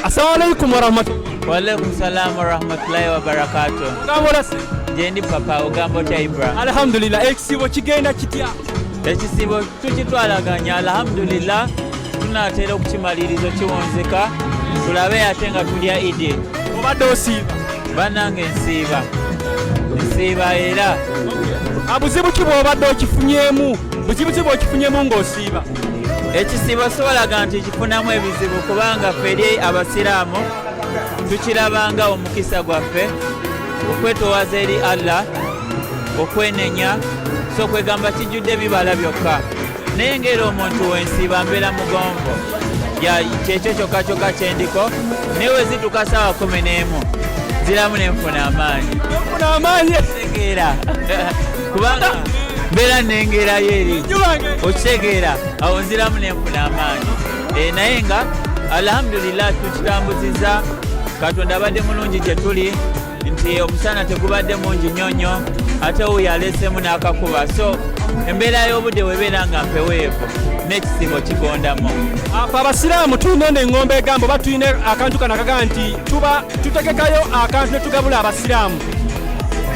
Assalamu alaikum warahmatullahi. Wa alaikum salam warahmatullahi wabarakatuh. Ogamba olasi? Gyendi papa ogamba otya Ibra? Alhamdulillah ekisiibo kigenda kitya? Ekisiibo tukitwalaganya alhamdulillah tunaatera okukimalirizo kiwonzeka tulabe ate nga tulya idi. Obadde osiiba? Bannange nsiiba nsiiba era abuzibu ki bw'obadde okifunyemu buzibu ki bw'okifunyemu ng'osiiba ekisiibo siwalaga nti tufunamu ebizibu kubanga ffe eri abasiraamu tukirabanga omukisa gwaffe okwetowaza eri allah okwenenya so kwegamba kijjudde bibala byokka naye ngaera omuntu wensiiba mbeera mugonvo kyekyo kyokka kyokka kyendiko naye wezituka saawa kumi n'emu ziramu nenfuna amaanyi amaanyi tegeera kubanga mbeera nengerayo eri okitegeera awo nziramu nenfuna amaanyi eh, naye nga alhamdulillah tukitambuziza katonda abadde mulungi gye tuli nti omusana tegubadde mungi nnyo nnyo ate owo yaleesemu n'akakuba so embeera y'obudde webeera nga mpeweevu n'ekisibo kigondamu apo abasiraamu tulina ono eŋŋombo egambo oba tulina akantu kano akagaa nti tuba tutegekayo akantu ne tugabula abasiraamu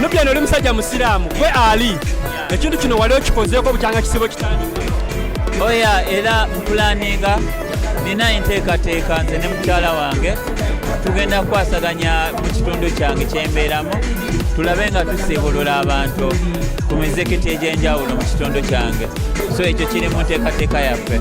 nubyano oli musajja musiraamu gwe ali ekintu kino wali okikozeeko bukyanga kisibo kitandi oya era mpulaninga nina enteekateeka nze ne mukyala wange tugenda kukwasaganya mu kitundu kyange kyembeeramu tulabe nga tusiibulula abantu ku mizikiti egy'enjawulo mu kitundu kyange so ekyo kiri mu nteekateeka yaffe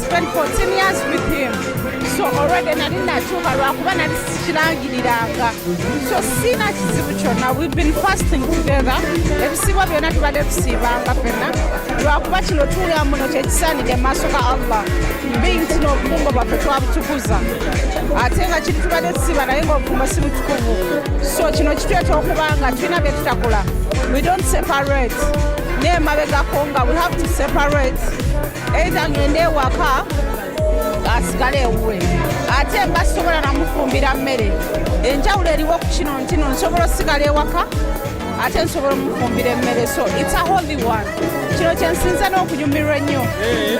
spent 14 years with him so already nali natuuka lwakuba nali sikirangiriranga so siina kizibu kyonna we've been fasting together ebisiibwa byonna tubadde tusiibanga fenna lwakuba kino tuula muno kyekisaanidde mu maaso ga allah being tino obufumbo bwaffe twabutukuza ate nga kiri tubadde tusiiba naye ngaobufumbo si butukuvu so kino kitweta okuba nga tulina bye tutakola we don't separate naye mabegako nga we have to separate eitha ngende ewaka asigale ewuwe ate mba sisobola namufumbira mmere enjawulo eriwo ku kino ntino nsobola osigala ewaka ate nsobola omufumbira emmere so its a holy one kino kyensinza n'okunyumirwa ennyo eh,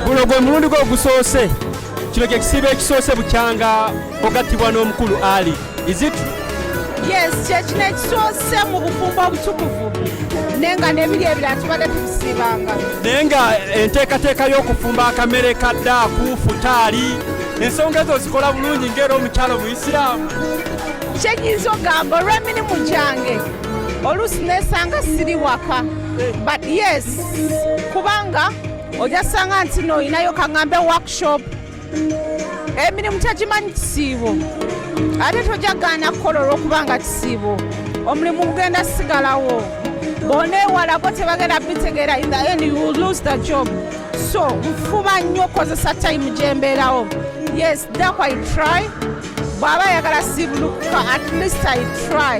guno gwe mulundi gwe ogusoose kino kye kisiibo ekisoose bukyanga ogattibwa n'omukulu ali Is it true? Yes, kyekino ekisoose mu bufumbo obutukuvu naye nga n'ebiri ebira tubadde tubisiibanga naye nga enteekateeka y'okufumba akamere ka ddaaku futaali ensonga ezo zikola bulungi ngaera omukyalo muisiraamu kyenyinza ogamba olw'emirimu gyange oluusi nesanga siri waka but yes kubanga ojasanga nti noyinayo kaŋambe workshop emirimu kyagimanyi kisiibo ate tojagaana kukola olwokubanga kisiibo omulimu gugenda sigalawo bona ewalako tebagenda bitegeera in the end you will lose the job so nfuba nnyo okukozesa time gyembeerawo yes daku i try bw'aba ayagala siibulukuka at least i try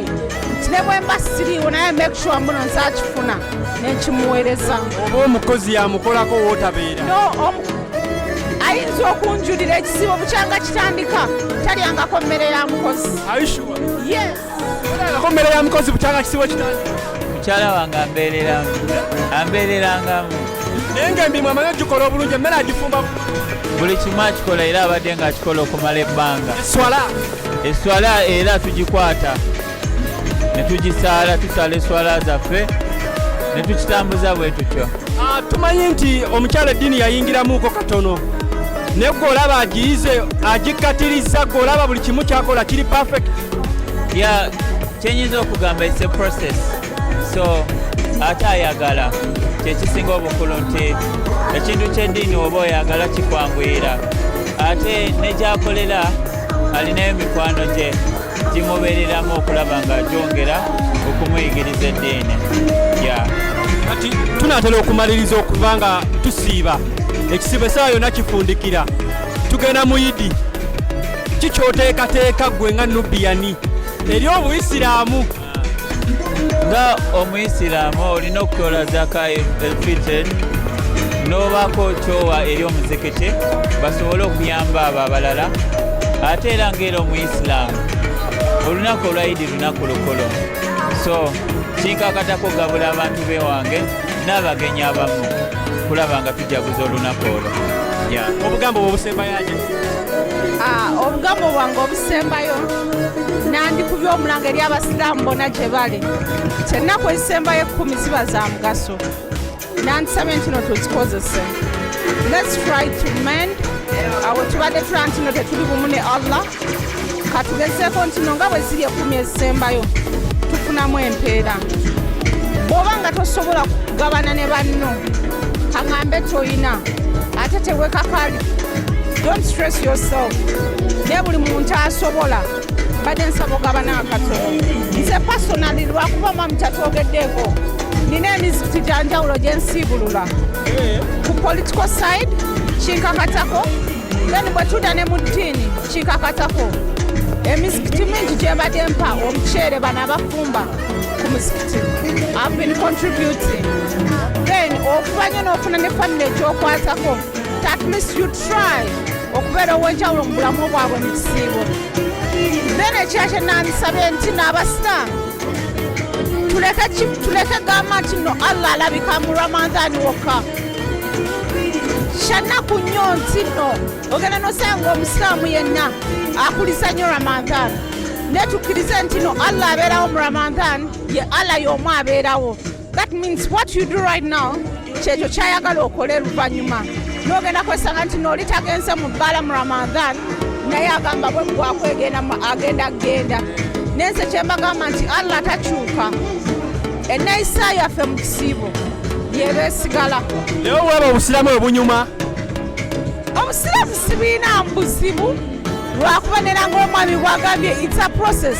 nti ne bwemba siriiwo naye make sure muno nze akifuna nekimuweereza oba omukozi yamukolako wootabeera ayinza okunjulira ekisiibo bukyanga kitandika talyangako mmere ya mukozi yes Ko mmere ya mukozi bukyanga kisibo kitani. Mukyala wange ambeereramu ambeererangamu. Naye ng'emirimu amanyi ogikola obulungi emmere agifumba buli kimu akikola era abadde ng'akikola okumala ebbanga. Eswala eswala era tugikwata ne tugisaala tusaala eswala zaffe ne tukitambuza bwe tutyo. Ah, tumanyi nti omukyala eddiini yayingiramuuko katono naye gwe olaba agiyize agikkatirizza gwe olaba buli kimu kyakola kiri perfect ya kyenyinza okugamba it's a process so ate ayagala kyekisinga obukulu nti ekintu kyeddiini oba oyagala kikwanguyira ate negyakolera alinayo mikwano gye gimubereramu okulaba nga gyongera okumuyigiriza eddiini ya kati tunatera okumaliriza okuva nga tusiiba ekisiibo esawa yona kifundikira tugenda muyidi ki kyoteekateeka ggwe nga nubiyani eri obuyisiraamu nga omuyisiraamu olina okukola zaka elfitir n'obaako kyowa eri omuzikiti basobole okuyamba abo abalala ate era ngaera omuyisiraamu olunaku olwayidi lunaku lukulu so kinkakatako gabula abantu bewange n'abagenyi abamu kulaba nga tujaguza olunaku olwo obugambo bwobusembayaja ah, obugambo bwange obusembayo nandikubya omulanga eri abasiraamu bona gye bali nti ennaku ezisembayo ekkumi ziba za mugaso nandisabye ntino tuzikozese lets try to mend awo tubadde tulaba ntino tetuli bumu ne allah katugezeeko ntino nga bwe ziri ekkumi ezisembayo tufunamu empeera bw'oba nga tosobola kugabana ne banno kaŋambe tolina ate tewekakali don't stress yourself ne buli muntu asobola mbadde nsaba ogabana akatono nze pasonali lwakuba mwamu kyatwogeddeko nina emizikiti gyanjawulo gyensiibulula eh. ku political side kinkakatako then bwe tuda ne mu ddiini kikakatako emizikiti mingi gyebadde mpa omuceere bano abafumba ku muzikiti have been contributing then okuba nyo n'ofuna ne famile ekyokwatako at least you try okubeera ow'enjawulo mu bulamu bwabwe mu kisiibo then ekira kye nandisabye nti n'abasiraamu tuleke gamba nti no allah alabika mu ramadhani wokka kyannaku nnyo nti no ogenda nosanga omusiraamu yenna akuliza nyo ramadhan naye tukkirize nti no allah abeerawo mu ramadhan ye allah y'omu abeerawo that means what you do right now kyekyo kyayagala okole luvannyuma nogenda kwesanga nti nooli tagenze mu bbaala mu ramadhan naye agamba bwe gwakwegenda agenda kugenda naye nze kyembagamba nti allah takyuka eneyisa yaffe mu kisiibo yebeesigala naye obwaba obusiramu obunyuma obusiraamu sibirina buzibu lwakuba nera ngaomwami bwagambye its a process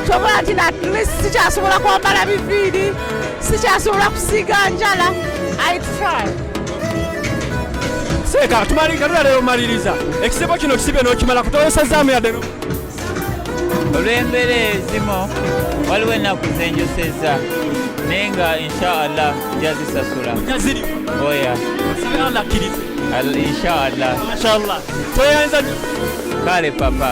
kyobola nti natlist sikyasobola kwambala biviiri sikyasobola kusiiga njala i try seeka tumalika tulalero maliriza ekisibo kino kisibye nokimala kutawesazaamu yadde olw'embeera ezimu waliwo ennaku zenjosezza naye nga inshaallah jazisasula oya inshaallah kale papa